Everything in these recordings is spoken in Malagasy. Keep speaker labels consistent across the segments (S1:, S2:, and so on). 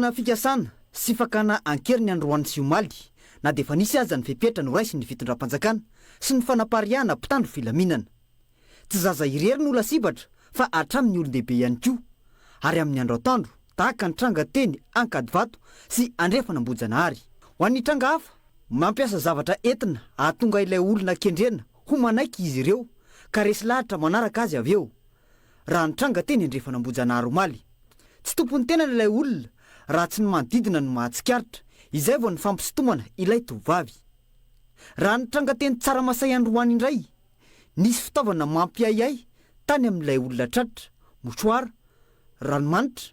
S1: Nanana fikasana sy fakana an-keriny androany sy omaly na dia efa nisy aza ny fepetra noraisin'ny fitondram-panjakana sy ny fanapariahana mpitandro filaminana. Tsy zaza irery no lasibatra fa hatramin'ny olon-dehibe ihany koa ary amin'ny andro atoandro tahaka ny tranga teny Ankadivato sy Andrefan'Ambohijanahary. Ho an'ny tranga hafa, mampiasa zavatra entina hahatonga ilay olona kendrena ho manaiky izy ireo ka resy lahatra manaraka azy avy eo. raha nitranga teny Andrefan'Ambohijanahary omaly. Tsy tompon'ny tenany ilay olona raha tsy ny manodidina no mahatsikaritra, izay vao nifampisintomana ilay tovovavy. Raha nitranga teny Tsaramasay androany indray, nisy fitaovana mampiahiahy tany amin'ilay olona tratra, mouchoir, ranomanitra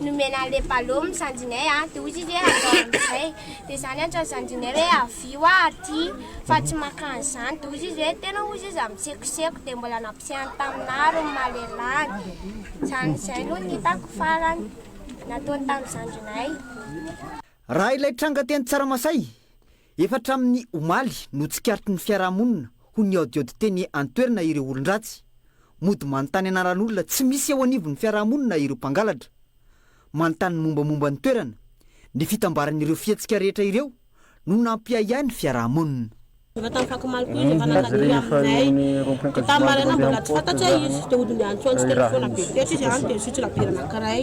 S2: Nomena an'ilay ballot ny zandrinay an, dia hoy izy hoe andao amin'izay, dia izaho niantso an'i zandrinay hoe avio aho aty fa tsy maka an'izany, dia hoy izy hoe tena hoy izy izaho mitsekoseko, dia mbola nampisehany taminà ary ny maha lelany, izany izay no nitako farany nataony tamin'ny zandrinay.
S1: Raha ilay tranga teny Tsaramasay, Efa hatramin'ny omaly no tsikaritry ny fiarahamonina ho nihaodihaody teny an-toerana ireo olon-dratsy. Mody manontany anaran'olona tsy misy eo anivon'ny fiarahamonina ireo mpangalatra. Manontany ny mombamomba ny toerana. Ny fitambaran'ireo fihetsika rehetra ireo no nampiahiahy ny fiarahamonina. Efa tamin'ny
S3: fakomaly koa izy efa nangadiry aminay. Dia tamin'ny maraina mbola tsy fantatra izy. Dia hody niantsoantso teny foana be fetra izy any dia nisotro labiera anankiray.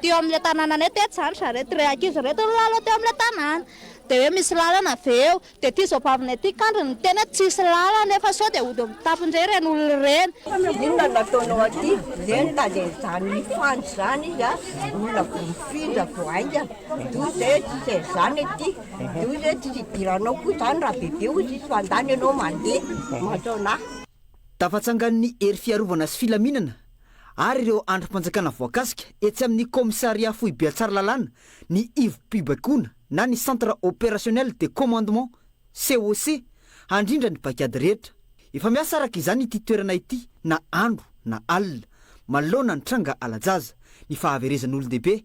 S4: Teo amin'ilay tanànanay tetsy izany ry zareo, ireo ankizy ireto no nilalao teo amin'ilay tanàna. Dia hoe misy lalana ve eo? Dia ity zaobavinay ity kandriny niteny hoe tsisy lalana nefa sao dia hody amin'ny tapony indray ireny olona ireny. Inona no ataonao
S5: aty? Dia nitady an'izany mifandy izany izy an, olona vao mifindra vao haingana. Toa izay hoe tsy izay izany aty, toa izay hoe tsy hidiranao koa izany raha bebe hoy izy fa andahy ny anao mandeha, mantsonà. Tafatsangan'ny
S1: hery fiarovana sy filaminana ary ireo andrim-panjakana voakasika etsy amin'ny kaomisarià foibe Tsaralalàna ny ivom-pibaikoana na ny Centre Opérationnel de Commandement, COC, handrindra ny paikady rehetra. Efa miasa araka izany ity toerana ity na andro na alina, manoloana ny tranga hala-jaza, ny fahaverezan'olon-dehibe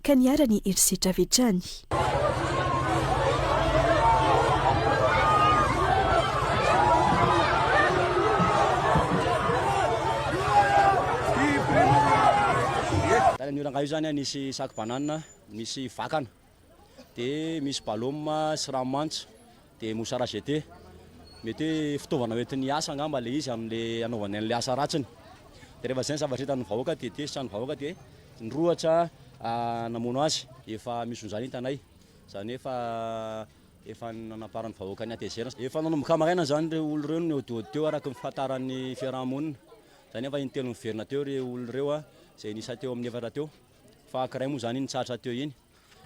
S6: ka niharany herisetra avy hatrany.
S7: Tany amin'io rangahy io zany an, nisy sac banane, nisy vakana, dia misy balôma sy rano manitra. Dia moussara jete, mety hoe fitaovana hoentin'ny hiasa angamba ilay izy amin'ilay hanaovany an'ilay asa ratsiny. Dia rehefa izay ny zavatra hitan'ny vahoaka dia tezitra ny vahoaka dia nirohotra namono azy. Efa misy izany hitanay, izany hoe efa efa nanamparan'ny vahoaka ny hatezerany. Efa nanomboka maraina izany ireo olona ireo no nihodihody teo araka ny fahafantaran'ny fiaraha-monina. Izany efa intelo niverina teo ireo olona ireo izay niisa teo amin'ny efatra teo fa ankiray moa izany iny nitsahatra teo iny.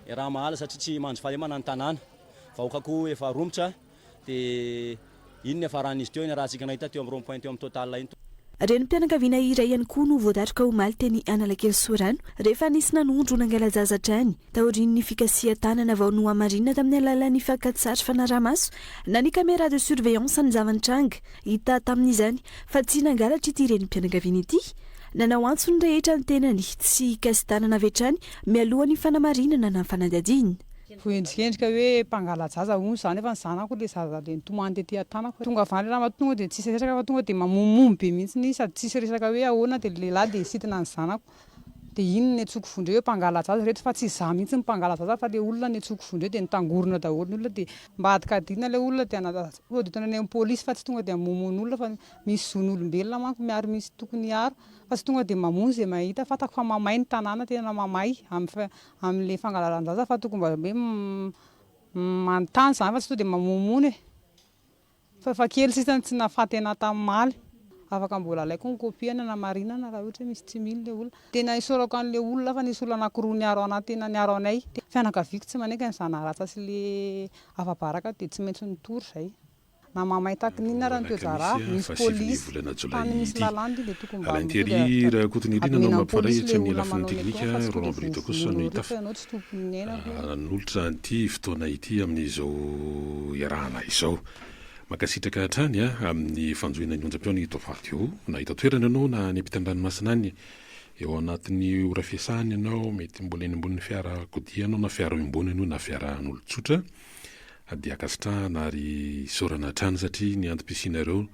S7: Raha mahala satria tsy mandry fahalemana ny tanàna. Vahoaka koa efa romotra dia iny no niafaran'izy teo, iny ratsika nahita teo amin'ny rond point teo amin'ny Total iny. Renim-pianakaviana
S6: iray ihany koa no voadatroka omaly teny Analakely Sorano rehefa nisy nanondro nangala-jaza hatrany taorian'ny fikasihan-tanana vao nohamarinina tamin'ny alalan'ny fakan-tsary fanaraha-maso na ny caméra de surveillance ny zava-nitranga. Hita tamin'izany fa tsy nangalatra ity renim-pianakaviana ity Nanao antso ny rehetra ny tenany tsy hikasi-tanana avy hatrany mialoha ny fanamarinana na fanadihadiana. Voaendrikendrika
S8: hoe mpangala-jaza hono za nefa ny zanako le zaza le nitomany tety an-tanako. Tonga avy any le ramatoa tonga de tsisy resaka fa tonga de mamomomo be mihitsiny izy sady tsisy resaka hoe ahoana de le lehilahy de sitana ny zanako. De iny niantsoako vondrey hoe mpangala-jaza reto fa tsy za mihitsy no mpangala-jaza fa le olona niantsoako vondrey de nitangorona daholo ny olona de mba hadikadihina le olona de hanadihady tonga de tonga any amin'ny polisy fa tsy tonga de hamomono olona fa Misy zon'olombelona manko miaro misy tokony hiaro fa tsy tonga dia mamono izay mahita, fantako fa mamay ny tanàna tena mamay amin'ilay fangalaran-jaza fa tokony mba hoe manontany izany fa tsy tonga dia mamonomono e! fa efa kely sisa no tsy nahafaty anah tam'maly, afaka mbola alaiko ny copie hanamarinana raha ohatra hoe misy tsy mino ilay olona, tena isaorako an'ilay olona fa nisy olona anankiroa niaro anah tena niaro anay, fianakaviako tsy manaiky ny zanaharatsy sy ilay afa-baraka dia tsy maintsy nitory izay. Na mamay takin inona ary ny toe draharaha, misy police, tany misy lalàna ity dia tokony mba mitohy dia ratratra,
S9: admin am police le olona manao ny atao fa tsy fototra izay misy vono olona fa ianao tsy tompony ny ainako io. Nanolotra an'ity fotoana ity amin'izao iarahana izao. Mankasitraka hatrany amin'ny fanjohiana ny onjam-peo ny Top Radio. Na eto an-toerana ianao na any am-pitan'ny ranomasina any, eo anatin'ny ora fiasana ianao, mety mbola eny ambonin'ny fiarakodia ianao na fiara eo ambony ianao na fiaraha an'olon-tsotra, Dia ankasitrahana ary isaorana hatrany satria ny antom-pisianareo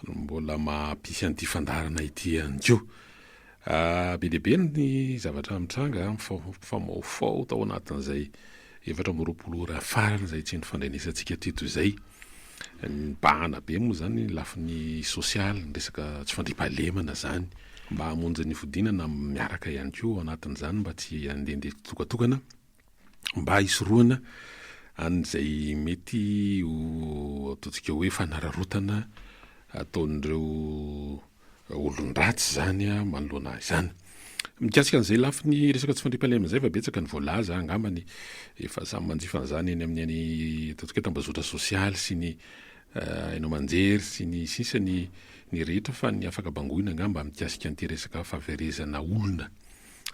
S9: no mbola maha-mpisy an'ity fandaharana ity ihany koa. Be dia be ny zavatra mitranga, mifamahofaho tao anatin'izay efatra amby roapolo ora farany izay tsy nifandrenesantsika teto izay. Nibahana be moa izany ny lafiny sosialy, ny resaka tsy fandriampahalemana izany. Mba hamonjy ny fodiana na miaraka ihany koa ao anatin'izany mba tsy handehandeha tsitokatokana. mba hisorohana an'izay mety ho ataontsika hoe fanararaotana ataon'ireo olon-dratsy izany manoloana izany. Mikasika an'izay lafiny resaka tsy fandriampahalemana izay fa betsaka ny voalaza angamba ny efa samy manjifa an'izany eny amin'ny any ataontsika hoe tambazotra sosialy sy ny haino aman-jery sy ny sisa ny ny rehetra fa ny afaka bangoina angamba mikasika an'ity resaka fahaverezana olona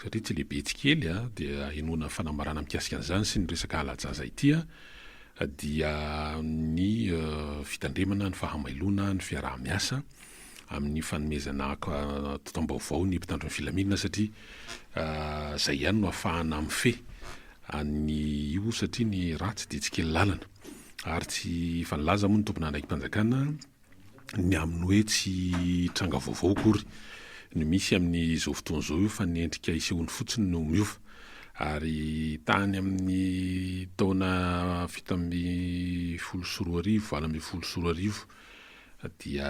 S9: satria tsy lehibe tsy kely dia henoana fanambarana mikasika an'izany sy ny resaka hala-jaza ity dia ny fitandremana ny fahamailoana ny fiaraha-miasa amin'ny fanomezana taom-baovao ny mpitandro ny filaminana satria izay ihany no afahana mifehy an'ny io satria ny ratsy dia tsy kely lalana ary tsy efa nilaza moa ny tomponandraiki-panjakana ny amin'ny hoe tsy tranga vaovao akory no misy amin'izao fotoana izao io fa ny endrika isehoany fotsiny no miova. Ary tany amin'ny taona fito ambin'ny folo sy roa arivo, valo ambin'ny folo sy roa arivo dia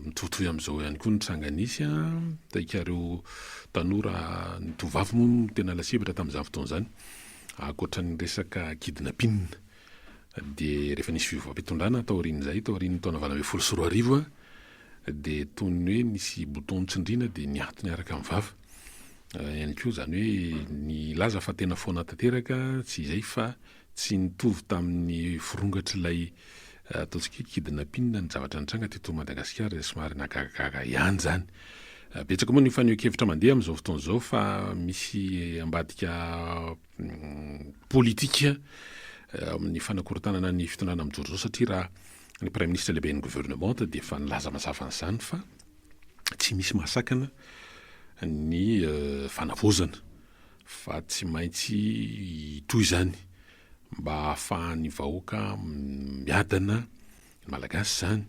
S9: mitovitovy amin'izao ihany koa ny tranga nisy an, hitan'ikareo tanora, ny tovovavy moa no tena lasibatra tamin'izany fotoana izany, ankoatra ny resaka kidnapping. Dia rehefa nisy fiovam-pitondrana taorian'izay, taorian'ny taona valo ambin'ny folo sy roa arivo, dia toy ny hoe nisy bouton nitsindriana dia niato niaraka amin'ny vava ihany koa, izany hoe nilaza fa tena foana tanteraka, tsy izay fa tsy nitovy tamin'ny firongatr'ilay ataontsika hoe kidnapping ny zavatra nitranga teto Madagasikara, izay somary nahagagagaga ihany izany. Betsaka moa ny fanehoan-kevitra mandeha amin'izao fotoana izao fa misy ambadika politika amin'ny fanakorontanana ny fitondrana mijoro izao satria raha ny praiministra lehiben'ny governemanta dia efa nilaza mazava an'izany fa tsy misy mahasakana ny eh, fanavaozana fa tsy maintsy hitohy izany mba hahafahan'ny vahoaka miadana Ny Malagasy izany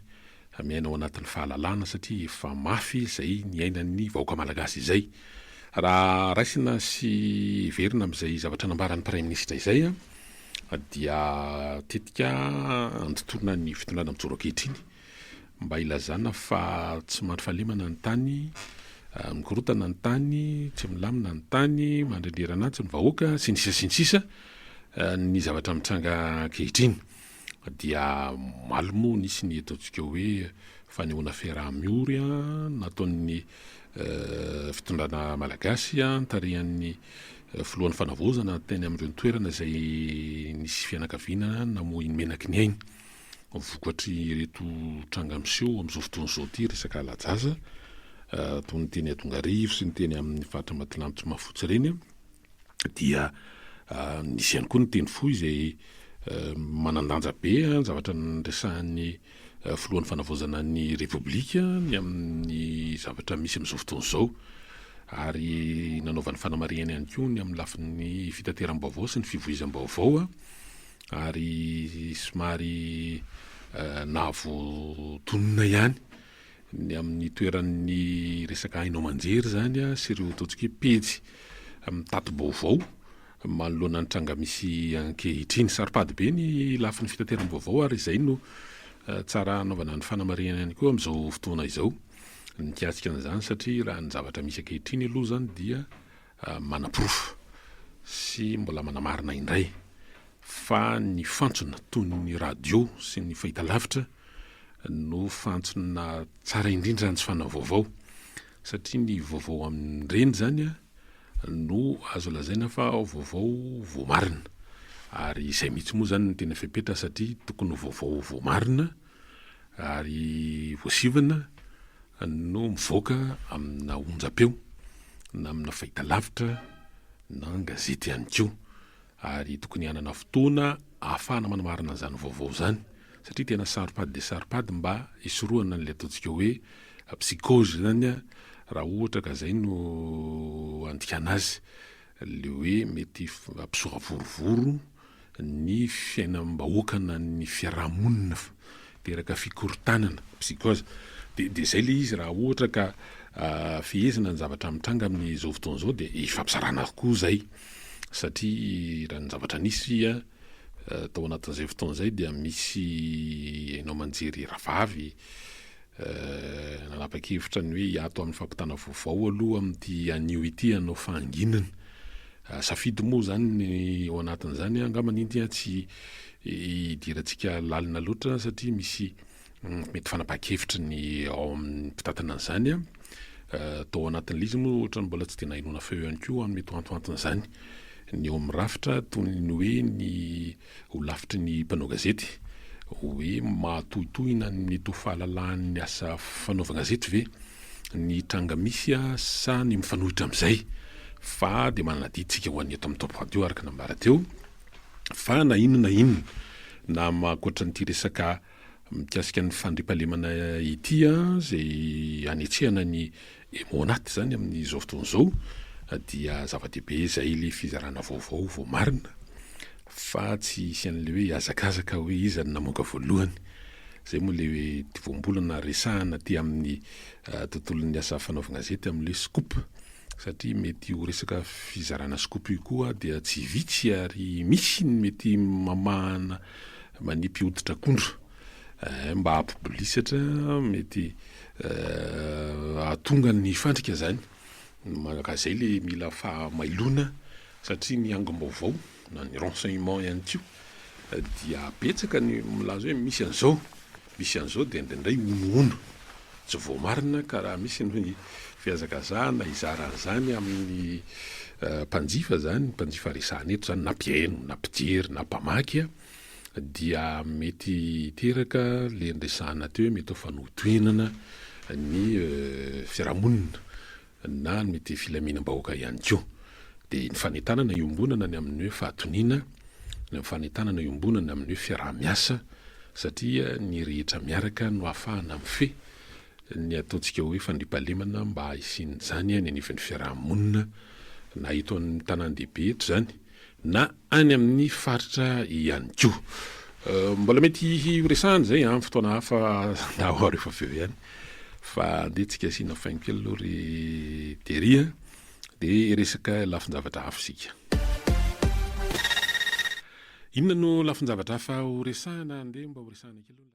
S9: miaina ao anatin'ny fahalalana satria efa mafy izay niainan'ny vahoaka Malagasy izay. Raha raisina sy heverina amin'izay zavatra nambaran'ny Praiminisitra izay dia tetika andotoana ny fitondrana mijoro ankehitriny mba hilazana fa tsy mandry fahalemana ny tany, mikorontana ny tany, tsy milamina ny tany, mandrendreran'antsy ny vahoaka sy ny sisa sy ny sisa ny zavatra mitranga ankehitriny. Dia omaly moa nisy ny ataontsika hoe fanehoana fiaraha-miory nataon'ny fitondrana malagasy nitarihan'ny filohan'ny fanavaozana teny amin'ireo toerana izay nisy fianakaviana namoy ny menaky ny ainy. Vokatry ireto tranga miseho amin'izao fotoana izao ity resaka lajaza toy ny teny Adongarivo sy ny teny amin'ny faritra Ambatolampy sy Mahafotsy ireny. dia misy ihany koa ny teny fohy izay manan-danja be ny zavatra niresahan'ny filohan'ny fanavaozana ny Repoblika ny amin'ny zavatra misy amin'izao fotoana izao ary nanaovany fanamarihana ihany koa ny amin'ny lafiny fitateram-baovao sy ny fivoizam-baovao ary somary nahavoatonona ihany ny amin'ny toeran'ny resaka haino aman-jery izany sy ireo ataontsika hoe pejy mitatibao-vao manoloana ny tranga misy ankehitriny. Saro-pady be ny lafiny fitateram-baovao ary izay no tsara hanaovana ny fanamarihana ihany koa amin'izao fotoana izao mikasika an'izany satria raha ny zavatra misy ankehitriny aloha izany dia manaporofo sy mbola manamarina indray fa ny fantsona toy ny radio sy ny fahitalavitra no fantsona tsara indrindra ny fanao vaovao satria ny vaovao amin'ireny izany no azo lazaina fa vaovao voamarina ary izay mihitsy moa izany no tena fepetra satria tokony ho vaovao voamarina ary voasivana no mivoaka amina onjam-peo na amina fahitalavitra na an-gazety ihany koa. ary tokony hanana fotoana ahafahana manamarina izany vaovao izany satria tena saro-pady dia saro-pady mba hisorohana an'ilay ataontsika hoe psychose izany raha ohatra ka izay no andikana azy, ilay hoe mety hampisora vorovoro ny fiainam-bahoakanan'ny fiarahamonina. teraka fikorontanana, psychose, dia dia izay ilay izy raha ohatra ka fehezina ny zavatra mitranga amin' izao fotoana izao dia ifampizarana avokoa izay satria raha ny zavatra nisy tao anatin' izay fotoana izay dia misy haino aman-jery rahavavy nanapa-kevitra ny hoe hiato amin' ny fampitana vaovao aloha amin' ity anio ity hanao fahanginana, safidy moa izany ny ao anatin' izany angamba ny India tsy hidirantsika lalina loatra satria misy mety fanapahan-kevitry ny ao amin'ny mpitantana an'izany a. Tao anatin'ilay izy moa ohatrany mbola tsy dia nahenoana feo ihany koa amin'ny mety ho antoanton'izany ny ao amin'ny rafitra toy ny hoe ny holafitry ny mpanao gazety hoe mahatohitohina ny mety ho fahalalahan'ny asa fanaovan-gazety ve ny tranga misy a sa ny mifanohitra amin'izay fa dia manana didintsika ho an'ny eto amin'ny Top Radio araka ny nambara teo. fa na inona na inona na ankoatra an'ity resaka mikasika ny fandriampahalemana ity izay hanetsehana ny emo anaty izany amin'izao fotoana izao dia zava-dehibe izay ilay fizarana vaovao vao marina fa tsy hisy an'ilay hoe hazakazaka hoe iza no namoaka voalohany. Izay moa ilay voambolana resahana aty amin'ny tontolon'ny asa fanaovan-gazety amin'ilay hoe scoop. satria mety ho resaka fizarana scoop io koa dia tsy vitsy ary misy ny mety mamahana manipy hoditr'akondro eh, mba hampibolisatra mety eh, ahatonga ny fandrika zany manaka zay le mila fahamailona satria ny angom-baovao na ny renseignement ihany koa eh, dia betsaka ny milaza hoe misy an'izao Misy an'izao dia indraindray honohono tsy voamarina ka raha misy ny fihazakazahana hizara an'izany amin'ny mpanjifa izany, mpanjifa resahana eto izany na mpihaino na mpijery na mpamaky dia mety hiteraka ilay niresahana teo hoe mety ho fanohitohinana ny fiarahamonina. na ny ity filaminam-bahoaka ihany koa, dia ny fanentanana iombonana ny amin'ny hoe fahatoniana, ny fanentanana iombonana amin'ny hoe fiaraha-miasa, satria ny rehetra miaraka no ahafahana mifehy ny ataontsika hoe fandriampahalemana mba hisian'izany any anivin'ny fiaraha-monina, na eto amin'ny tanàn-dehibe eto izany, na any amin'ny faritra ihany koa. Mbola mety horesahana izay amin'ny fotoana hafa na ho arivo avy eo ihany fa andeha tsika asiana faingo kely aloha ry Terry a, dia hiresaka lafin-javatra hafa isika. Inona no lafin-javatra hafa horesahana? Andeha mba horesahana kely aloha.